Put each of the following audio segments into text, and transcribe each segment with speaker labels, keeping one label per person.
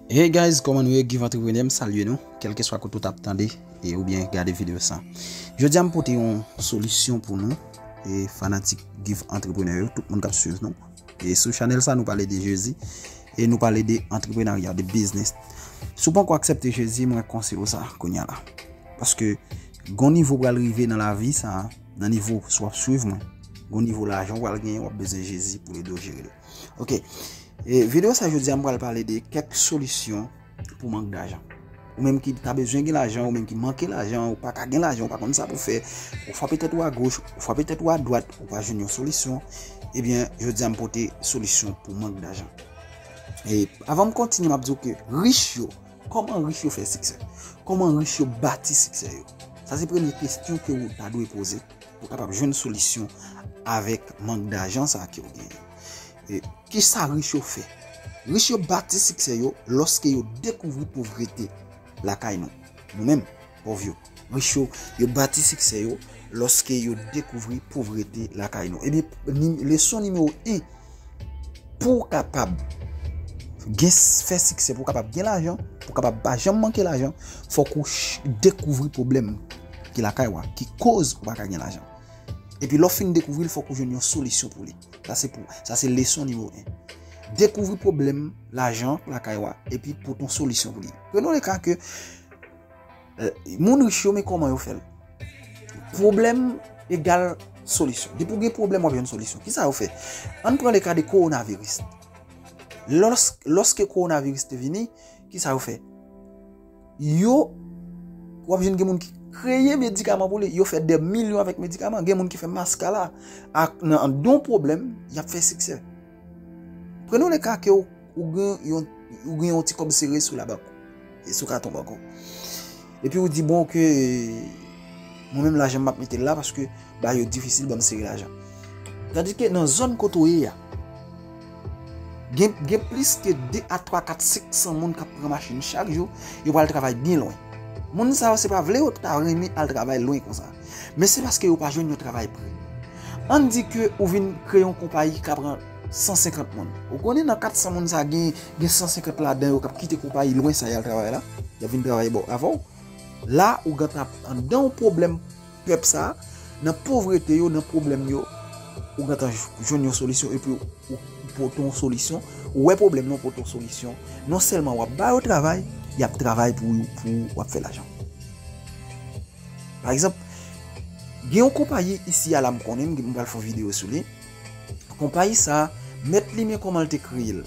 Speaker 1: Hey guys koman nou ye Guy vantreprenè m salye nou kelkeswa kote ou tap tande e oubyen gade video sa jodi a m pote yon solisyon pou nou e fanatik Guy vantreprenè yo tout moun kap swiv nou e sou chanel sa nou pale de jezi e nou pale de antreprenarya de biznis si w panko aksepte jezi mwen konse yo sa kounya la paske gon nivo pral rive nan lavi sa nan nivo sou ap swiv mwen gon nivo lajan pral gen wap bezwen jezi pou ede w jere l. Ok, videyo sa jodi an pral pale de kèk solisyon pou mank dajan. Ou menm ki ta bezwen gen lajan, ou menm ki manke lajan, ou pa ka gen lajan, ou pa konn sa pou fè, ou fwape tèt ou a goch, ou fwape tèt ou a dwat, ou pa jwenn yon solisyon, ebyen, eh jodi an m pote solisyon pou mank dajan. E, avan m kontinye m ap di ou ke rich yo, koman rich yo fè siksè? Koman rich yo bati siksè yo? Sa se premye kestyon ke ou ta dwe poze. Ou kapab jwenn solisyon avèk mank dajan sa ke ou genyen. Ki sa rich yo fè? Rich yo bati siksè yo lòske yo dekouvri povrete lakay nou. Nou menm, pòv yo. Rich yo, yo bati siksè yo lòske yo dekouvri povrete lakay nou. Ebyen, leson nimewo 1. Pou w kapab gen fè siksè, pou w kapab gen lajan, pou w kapab pa janm manke lajan, fòk ou dekouvri pwoblèm ki lakay ou a, ki koz ou pa ka gen lajan. Epi lè w fin dekouvri l, fòk ou jwenn yon solisyon pou li. Sa se pou, sa se leson nimewo 1. Dekouvri pwoblèm lajan lakay ou a, epi pote yon solisyon pou li. Prenn yon le ka ke. Moun rich yo men koman yo fel. Problem egal solisyon. Depi ou gen problem wap jwenn solisyon. Kisa yo fe? An pran le ka de koronaviris. Lorske koronaviris te vini, kisa yo fe? Yo wap jwenn gen moun ki kreye medikaman pou li. Yo fe de milyon avèk medikaman. Gen moun ki fe maskala. Ak nan don problem, yap fe siksè. Pran nan le ka ke ou gen yon ti kòb sere sou la bank ou. E sou katon bank ou. E pi ou di bon ke mwen menm lajan map mete la paske ba yo difisil banm sere lajan. Tandis ke nan zòn kote ou ye ya, gen plis ke 2 a 3 a 4 a 500 moun kap pran machin chak jou, yo pral travay byen lwen. Moun sa yo se pa vle yo ta renmen al travay lwen konsa. Men se paske yo pa jwenn yon travay pre. Ann di ke ou vin kreye yon konpayi ka pran 150 moun. Ou konnen nan 400 moun sa gen 150 ladan yo k ap kite konpayi lwen sa y al travay la, y ap vin travay bò avè w. La ou gentan ap anndan yon pwoblèm pèp sa a, nan povrete yo, nan pwoblèm yo, ou gentan jwenn yon solisyon epi ou pote yon solisyon. Ou wè pwoblèm nan, ou pote yon solisyon. Nonsèlman w ap ba yo travay, y ap travay pou w, w ap fè lajan. Pa egzanp, gen yon konpayi isi a la m konnen, m pral fè yon videyo sou li. Konpayi sa a, mèt li men kòman l te kreye l.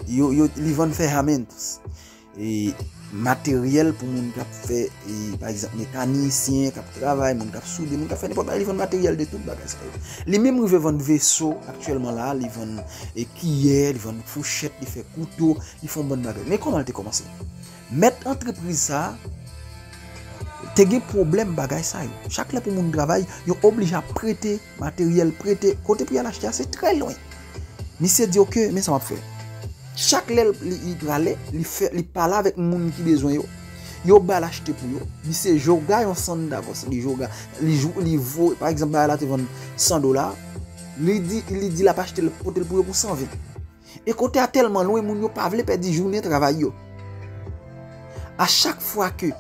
Speaker 1: Li vann fè hamints, materyèl pou moun k ap fè, pa egzanp, mekanisyen k ap travay, moun k ap soude, moun k ap fè nenpòt bagay, li vann materyèl de tout bagay sa yo. Li menm rive vann veso, aktyèlman la, li vann kiyè, li vann fouchèt, li fè kouto, li fè yon bann bagay. Men kòman l te kòmanse? Mèt antrepriz sa a te gen pwoblèm bagay sa yo. Chak lè pou moun travay, yo oblije ap prete materyèl, prete. Kote pou y al achte a, se trè lwen. Misye di oke, men sa m ap fè. Chak lè li prale, li pale avèk moun ki bezwen yo. Yo ba l achte pou yo. Misye joga yon sann davòs. Li joga. Li voye. Pa egzanp, bagay la te vann 100 dola. Li di l ap achte l, pote l pou yo pou 120. E kote a tèlman lwen moun yo pa vle pèdi jounen travay yo. A chak fwa ke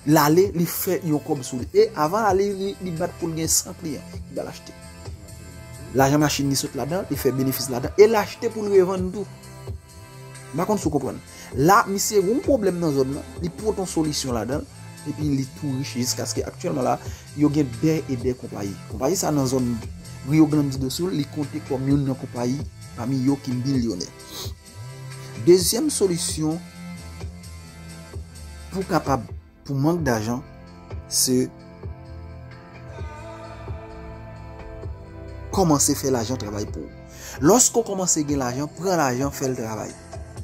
Speaker 1: l ale li fè yon kòb sou li. E avan l ale li bat pou l gen 100 kliyan ki pral achte. Lajan machin li sot ladan, li fè benefis ladan. E l achte pou l revann tou. M pa konn si w konprann. La misye gen yon pwoblèm nan zòn nan, li pran yon solisyon ladan, epi li tou rich jiskaske aktyèlman la. Yo gen dè e dè konpayi. Konpayi sa nan zòn Rio Grande do Sul, li konte kòm youn nan konpayi pami yo ki milyonè. Dezyèm solisyon pou kapab pou mank dajan se kòmanse fè lajan travay pou ou. Lòske ou kòmanse gen lajan, pran lajan fè l travay.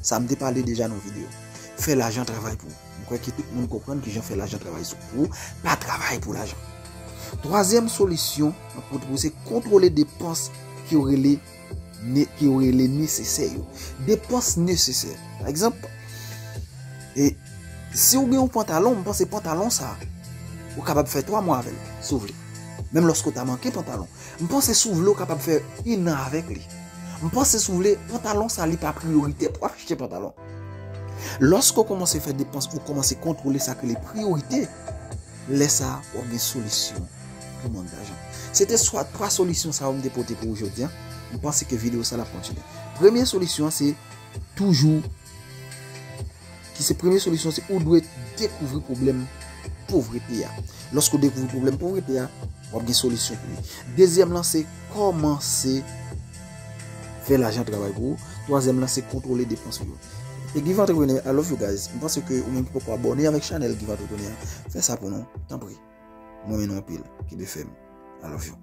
Speaker 1: Sa m te pale deja nan videyo. Fè lajan travay pou ou. M kwè ke tout moun konprann kijan fè lajan travay sou ou, pa travay pou lajan. Twazyèm solisyon mwen pote pou ou se kontwole depans ke yo rele ke yo rele nesesè yo. Depans nesesè. Pa egzanp, e si ou gen yon pantalon, m panse pantalon sa ou kapab fè 3 mwa avèl, si ou vle. Menm lòske ou ta manke pantalon. M panse si w vle w kapab fè 1 an avèk li. M panse si w vle pantalon sa li pa priyoritè pou achte pantalon. Lòske w kòmanse fè depans ou kòmanse kontwole sa ki rele priyorite, lè sa w ap gen solisyon pou mank dajan. Se te swa 3 solisyon sa yo m te pote pou ou jodi an. M panse ke videyo sa l ap kontinye. Premye solisyon an se toujou. ki se premye solisyon se ou dwe dekouvri pwoblèm povrete a. Lòske ou dekouvri pwoblèm povrete a, w ap gen solisyon pou li. Dezyèm lan se kòmanse fè lajan travay pou ou. Twazyèm lan se kontwole depans ou yo. Se Guy Vantreprenè, I love you guys. M panse ke ou menm ki poko abòne avèk chanèl Guy Vantreprenè a, fè sa pou nou, tanpri. M renmen nou anpil, kenbe fèm. I love you.